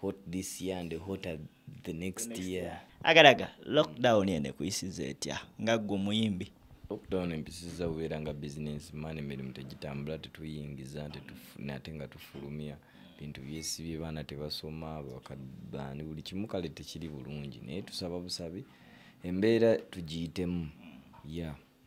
hot this year and hotter the next, the next year. year. Agaraga, lockdown yene kuisiza etya nga gwe muyimbi. Lockdown empisiza ubeera nga business man emirimu tegitambula tetuyingiza tetufuna ate nga tufulumya bintu byesibye baana tebasoma bakabani buli kimu kale tekiri bulungi naye tusaba busabi embeera tugiyitemu ya yeah.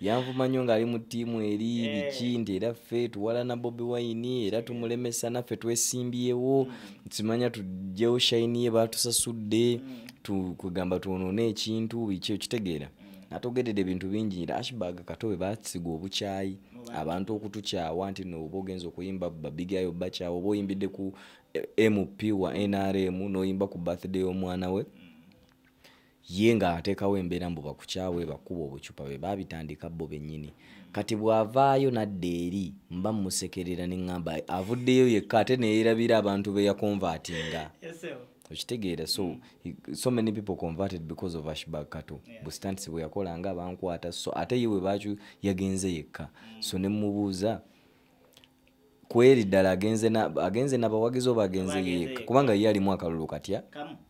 yanvuma nnyo ng'ali mu ttiimu eri eh. biki nti era ffe tuwalana bobi wayini era tumulemesa naffe twesimbyewo mm. simanya tujjewo shayini ye baatusasudde mm. kugamba twonoona ekintu biki okitegeera mm. natogedede ebintu bingi nti ashbag katobe basiga obukyayi abantu okutukyawa nti nooba ogenza okuyimba babigayo bakyawa oba oyimbidde ku eh, mp wa nrm noyimba ku birthday y'omwana we mm. ye nga atekawo embeera mbu bakukyawe bakuba obucupa be babitandika bo benyini kati bwavaayo nadda eri mba musekerera neŋamba avuddeyo yekka ate neyerabira abantu beyakonvatinga okitegeera so mm. so many people converted because of ashbag kato yeah. bustantisi bweyakola nga bankwata so ate ye webacu yagenze yekka mm. so nemubuuza kweri ddala agenze nabawagizi oba agenze yeeka kubanga ye alimu akalulu katya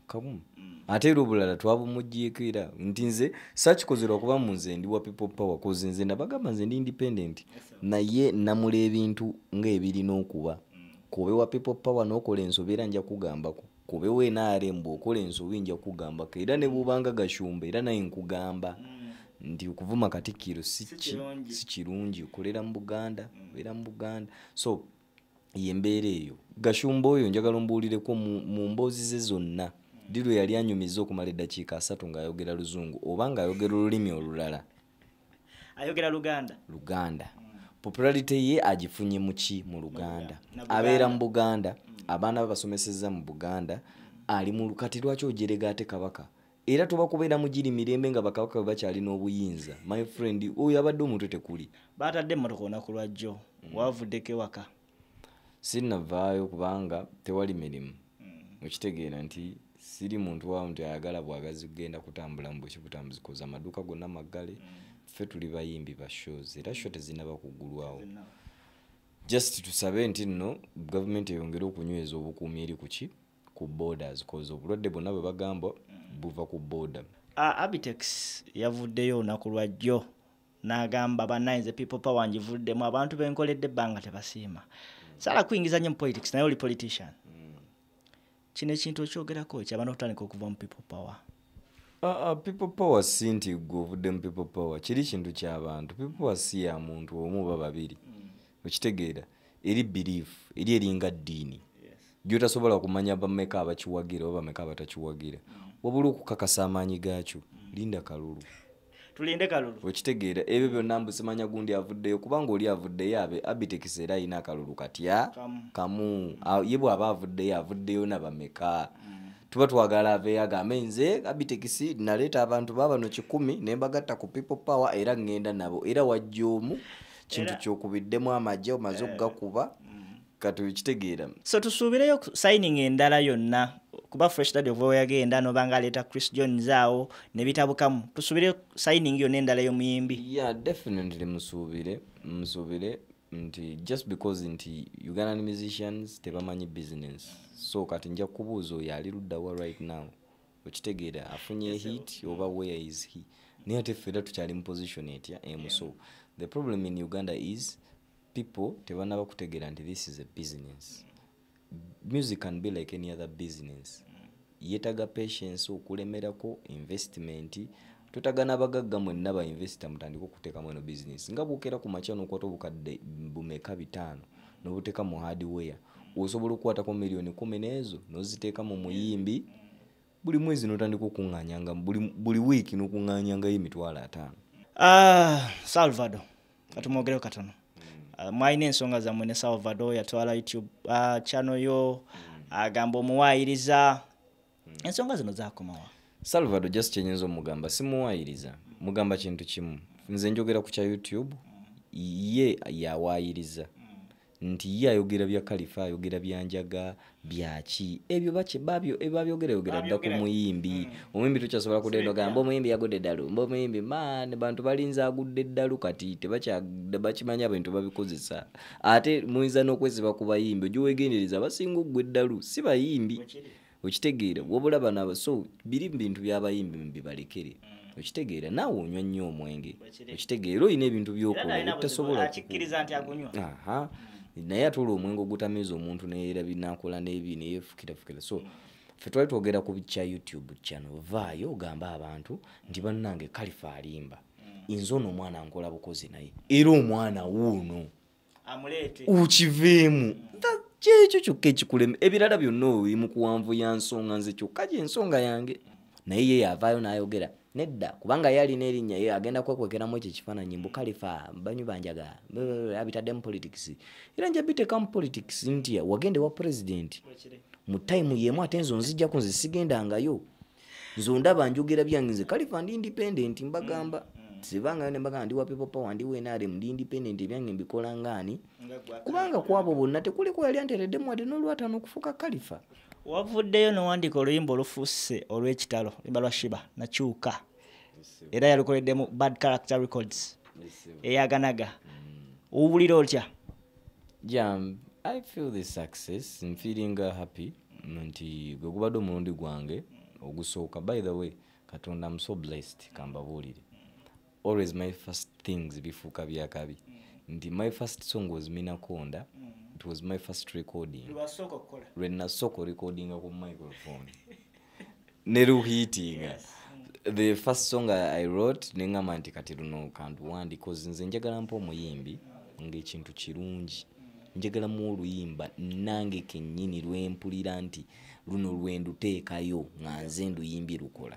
kamu mm. ate era obulala twabumujiikira nti nze sakikozera okuba mu nze ndi wa people power kozi nze nabagamba nze ndi independent naye namula ebintu ngaebirina okuba mm. kuobe wa people power nokola ensobi era nja kugambako kubewo nrm bwokola ensobi nja kugambako era nebubanga gashumba era naye nkugamba mm. nti okuvuma katikkiro si kirungi okolera mu buganda mm. obeera mu buganda so yembeera eyo gashumba oyo njagala ombuulireko mu mboozi ze zonna mm. ddi lwe yali anyumiza okumala eddakiika asatu ng'ayogera luzungu oba ng'ayogera olulimi olulala ayogera luganda luganda popularity ye agifunye muki mu luganda abeera mu buganda mm. abaana be basomeseza mu buganda ali mu kati lwaki ojerega ate kabaka era tuba kubeera mugiri mirembe nga bakabaka bwe bakyalina obuyinza my friend oyo abadde omutwe tekuli batadde emmotoka olunaku lwajjo mm. wavuddeko ewaka sinnavaayo kubanga tewali mirimu mm. okitegeera nti siri muntu wa nti ayagala bwagazi kugenda kutambula mu buki butambuzi koza amaduuka gonna maggale mm. ffe tuli bayimbi ba shows era sho tezinaba kuggulwawo just tusabe nti nno gavumenti eyongere okunyweza obukuumi eri kuki ku borders koza obulwadde bwonna bwe bagamba mm. buva ku border abitex yavuddeyo olunaku lwajjo n'agamba banaye nze people power ngivuddemu abantu benkoledde ebbanga tebasiima sala kuyingiza nnyo mu politics naye oli politician kino ekintu okyogerako kyabana okutandika okuva mu people power Uh, people power si nti gwe ovudde mu people power kiri kintu kyabantu people power si ya muntu omu oba babiri mm. okitegeera eri belief eri eringa ddiini gyotasobola kumanya bameka abakiwagira oba bameka abatakiwagira mm. wabula okukakasa amaanyi gaakyo mm. linda kalulu tulinde kalulu okitegeera ebyo byonna mbusimanya gundi avuddeyo kubanga oli avuddeyo abe abitekisa era alina akalulu katya kamu ye bw'aba avuddeyo avuddeyo nabameka mm. tuba twagala aveyo agambe nze abitekisi naleeta abantu babano kikumi ne mbagatta ku people power era ŋŋenda nabo era wajja omu kintu kyokubiddemu amagye omaze eh. okugakuba katukitegeera so tusuubireyo signing endala yonna kuba fresh dad ova weyagenda nobanga aleeta chris johns awo nebitabukamu tusuubire signing yonna endala yomuyimbi ya yeah, definitely musuubire musuubire nti just because nti ugandan musicians tebamanyi business so kati nja kubuuza oyo ali luddawa right now okitegeera afunye hit oba where is he naye ate ffe era tukyali mu position etya emuso eh, the problem in uganda is people tebanaba kutegeera nti this is a business music can be like any other business yetaga patience okulemerako investment totaga nabagagga mwenna ba investor mutandika okuteekamu eno business nga bwokera ku makya nokwata obukadde bumeka bitaano nobuteeka mu hardware osobola okukwatako miliyoni kumi neezo noziteeka mu muyimbi buli mwezi notandika okuŋŋanyanga buli, buli wiiki nokuŋŋanyangayo emitwalo ataano uh, salvado katumwogereo katono uh, mwalina ensonga zammwe ne salvado yatwala youtube uh, ah, chano yo agamba uh, omuwaayiriza ensonga zino zakomawa salvado just kyenyinza omugamba simuwaayiriza mugamba kintu kimu nze njogera ku kya youtube ye yawaayiriza nti ye ayogera bya kalifa ayogera byanjaga byaki ebyo bakye babyo ebabyogera eh, yogera dda ku muyimbi hmm. omuyimbi tukyasobola kudda eno gamba omuyimbi yagudde eddalu mba omuyimbi man bantu balinza agudde eddalu kati tebakimanya abantu babikozesa ate muyinza n'okwesiba ku bayimbi ojo wegendereza abasinga oggwa eddalu si bayimbi okitegeera wabula bano aba so biri mu bintu byabayimbi mubibalekere mm. okitegeera naawe onywa nnyo omwenge okitegeera olina ebintu byokola ebitasobola mm. naye ate olwo omwenge ogutamiiza omuntu neera binakola nebi neyefukirafukira so mm. fe twali twogera ku kya youtube kyano vaayo ogambe abantu nti bannange kalifa alimba inze ono omwana nkola bukozi naye era omwana wuuno ukiveemu kyekyo kyokka ekikulema ebirala byonna oli mu kuwanvu ya nsonga nze kyokka gyensonga yange naye ye yavaayo n'ayogera nedda kubanga ye alina erinnya ye agenda kwekwekeramu ekyo ekifaananyi mbu kalifa banyu banjaga abitaddemu politics era nja biteekamu politics nti wagenda ewa pulezidenti mu tayimu yeemu ate nze onzijjaku nze sigendangayo nze ondaba njogera byange nze kalifa ndi independent mbagamba mm, mm. sibangayo nembagamba ndi wa people power ndi wnrm ndi independent ebyange mbikola ngaani kubanga kwabo bonna tekuliko yali antereddemu wadde n'olwatano okufuuka kalifa wavuddeyo nowandiika oluyimba olufuuse olw'ekitalo limba lwa shiba nakyuka era yalukoleddemu bad character records eyaganaga mm. owulira otya yeah, um, i feel this success m feeling uh, happy nti gwe gubadde omulundi gwange ogusooka by the way katonda am so blessed kambabuulire always my first things bifuuka byakabi nti my first song was minakonda it was my first recording lwenasooka recordinga ku microphone ne luhiitinga yes. the first song i wrote nengamba nti kati luno kantu wandi bcause nze njagala mpa omuyimbi ngaekintu kirungi njagalamu oluyimba nange kenyini lwempulira nti luno lwenduteekayo nga nze nduyimbi lukola